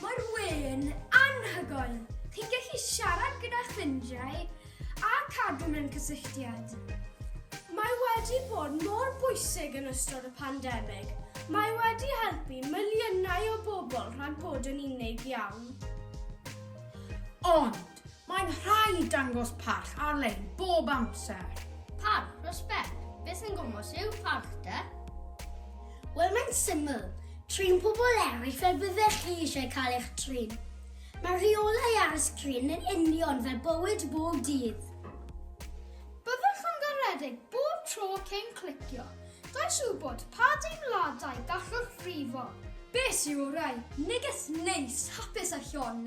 Mae'r we'n anhygoel! Chi'n gallu siarad gyda ffrindiau a cadw mewn cysylltiad. Mae wedi bod mor bwysig yn ystod y pandemig. Mae wedi helpu miliynau o bobl rhag bod yn unig iawn. Ond, Mae'n rhaid dangos parch ar-lein bob amser. Parch, respect. Beth sy'n gwmwys yw parch de? Wel, mae'n syml. Trin pobl eraill fel byddech chi eisiau cael eich trin. Mae rheolau ar y sgrin yn union fel bywyd bob dydd. Byddwch yn garedig bob tro cyn clicio. Does wybod pa deimladau gallwch frifo. Beth sy'n orau? Neges neis, hapus a llon.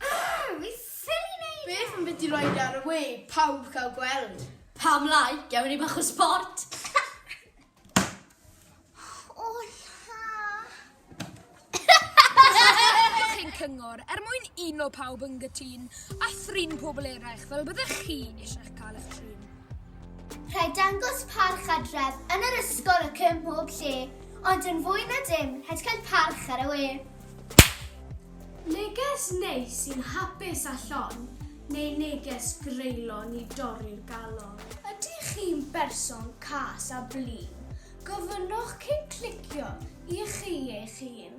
Argh! Fi ffili neud e! Beth am biti roi fe ar y we, pawb cael gweld. Pam lai, gewn ni bach o sport. O la! Diolch ein cyngor er mwyn uno pawb yn gytun a thrin pobl eraill fel byddech chi eisiau cael eich trin. Rhaid dangos parch adref yn yr ysgol ac ym mhob lle, ond yn fwy na dim, rhaid cael parch ar y we. Neges neis sy'n hapus a llon neu neges greulon i dorri'r galon? Ydych chi'n berson cas a blin? Gofynnwch cyn clicio i chi eich hun.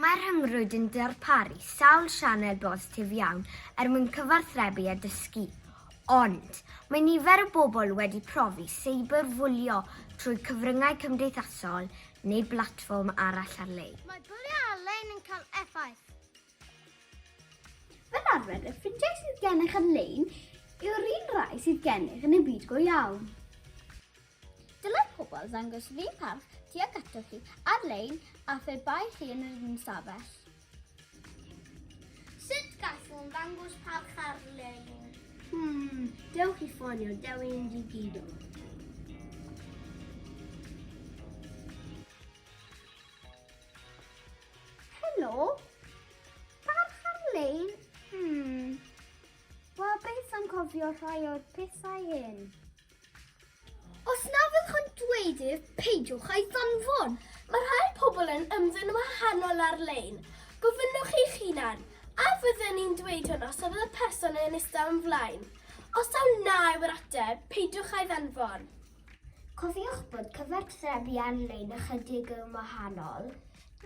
Mae'r rhyngrwyd yn darparu sawl sianel bositif iawn er mwyn cyfathrebu a dysgu. Ond, mae nifer o bobl wedi profi seiberfwlio trwy cyfryngau cymdeithasol neu blatfform arall ar-lein. Mae bwlio ar-lein yn cael effaith. Fel arfer, y ffrindiau sydd gennych ar-lein yw'r un rai sydd gennych yn y byd go iawn. Dylai pobl ddangos lun parch tuag atoch chi ar-lein a phe bai chi yn yr ystafell. Sut gallwn ddangos parch ar-lein? Hmm, dewch i ffonio Dewi yn digidol. Helo? Parch ar-lein? Hmm. Wel, beth am cofio rhai o'r pethau hyn? Os na fyddwch yn dweud ef, peidiwch a'i ddanfon. Mae rhai pobl yn ymddwyn yn wahanol ar-lein. Gofynnwch eich hunan, a fydden i'n dweud hwn os oedd y person yn eistedd o'm flaen? Os taw na yw'r ateb, peidiwch a'i ddanfon. Cofiwch bod cyfathrebu ar-lein ychydig yn wahanol.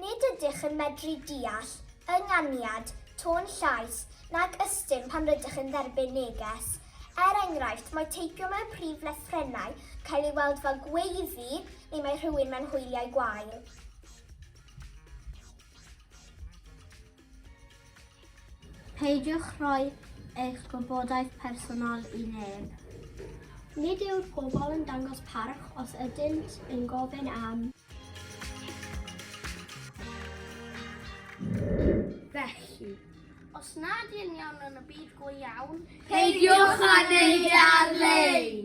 Nid ydych yn medru deall ynganiad, tôn llais, nag ystum pan rydych yn dderbyn neges. Er enghraifft, mae teipio mewn prif lythrennau cael ei weld fel gweiddi neu mae rhywun mewn hwyliau gwael. Peidiwch rhoi eich gwybodaeth personol i neb. Nid yw'r pobl yn dangos parch os ydynt yn gofyn am. Felly, os nad yn iawn yn y byd go iawn, peidiwch â neud e ar-lein!